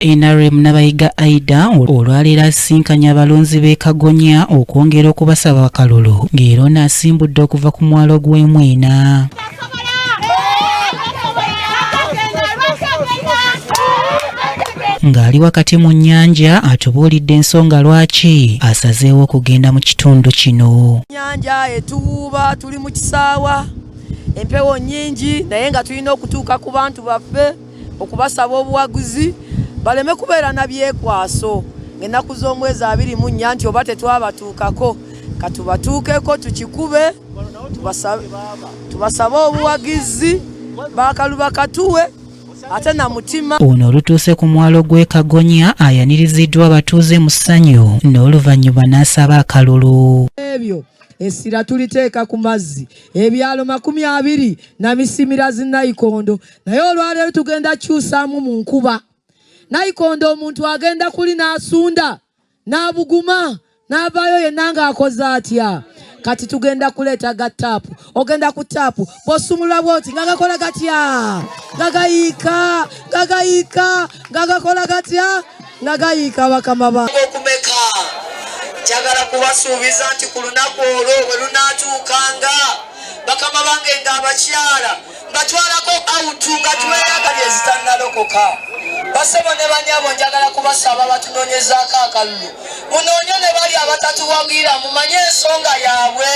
nrm nabayiga aida olwaleero asisinkanye abalonzi b'e kagonya okwongera okubasaba akalulu ng'era ono asimbudde okuva ku mwalo gw'emwena ng'ali wakati mu nnyanja atubuulidde ensonga lwaki asazeewo okugenda mu kitundu kino nnyanja etuwuuba tuli mu kisaawa empewo nnyingi naye nga tulina okutuuka ku bantu baffe okubasaba obuwagizi baleme kubeera na byekwaso ng'ennaku z'omwezi abiri mu nnya nti oba tetwabatuukako katubatuukeko tukikube tubasabe obuwagizi bakaluba katuwe ate na mutima ono olutuuse ku mwalo gw'e kagonya ayaniriziddwa abatuuze mu ssanyu n'oluvannyuma n'asaba akalulu ebyo essira tuliteeka ku mazzi ebyalo makumi abiri na misimira zinayikondo naye olwaleero tugenda kyusaamu mu nkuba nayikondo omuntu agenda kuli n'asunda n'abuguma n'avaayo yenna ng'akoze atya kati tugenda kuleeta ga taapu ogenda ku taapu bw'osumulula bwoti nga gakola gatya nga gayiika nga gayiika nga gakola gatya nga gayiika bakama ba okumeka njagala kubasuubiza nti ku lunaku olwo bwe lunaatuukanga bakama bange ng'abakyala mbatwalako awutu nga tweyagalye zitannalokoka basebo ne banyabo njagala kubasaba batunoonyezaako akalulu munoonye ne bali abatatuwagira mumanye ensonga yaabwe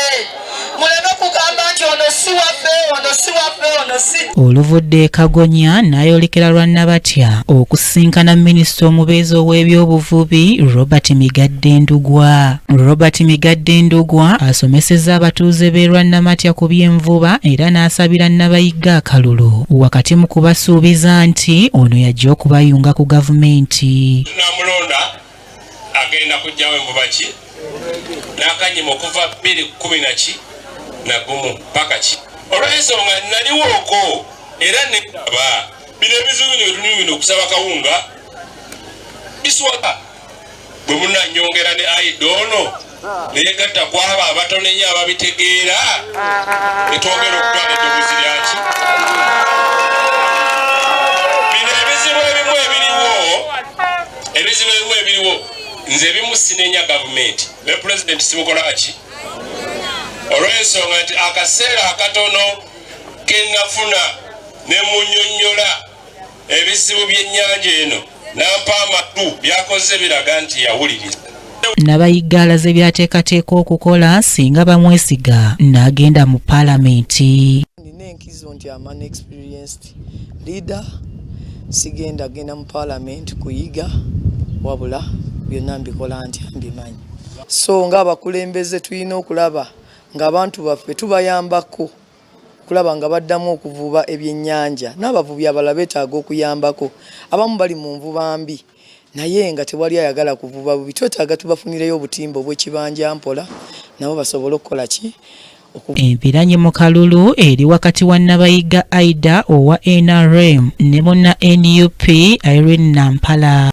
oluvudde kagonya n'ayolekera lwa nabatya okusinkana minisita omubeezi ow'ebyobuvubi robert migadde ndugwa robert migadde ndugwa asomesezza abatuuze b'e lwannamatya ku by'envuba era n'asabira nabayigga akalulu wakati mu kubasuubiza nti ono yajja okubayunga ku gavumenti agenda kujjawo envuba ki n'akanyima okuva bbiri kumi naki nagumu paka ki olw'ensonga naliwooko era neaba bino ebizibu bino byetulimu bino okusaba kawunga biswaka bwe munanyongera ne aida ono neyegatta ku abo abatonenya ababitegeera etwongera okutwala eddoboozi lyaki bino ebizibu ebimu ebiriwo ebizibu ebimu ebiriwo nze ebimu sinenya gavumenti ne pulezidenti simukolaki olw'ensonga nti akaseera akatono kenafuna ne munyonyola ebizibu by'ennyanja eno nampa amatu byakoze biraga nti yawuliriza nabayigga alaze byateekateeka okukola singa bamwesiga n'agenda mu palamenti nina enkizo nti aman experienced leader sigenda genda mu palamenti kuyiga wabula byonna mbikola ntya mbimanyi so ng'abakulembeze tulina okulaba ng'abantu baffe tubayambako kulaba nga baddamu okuvuba ebyennyanja n'abavubi abalala beetaaga okuyambako abamu bali mu nvuba mbi naye nga tewali ayagala kuvuba bubi twetaaga tubafunireyo obutimba obwekibanja mpola nabo basobole okukola ki Empiranyi mu kalulu eri wakati wa Nabayiga Aida owa NRM ne munna nup Irene Nampala.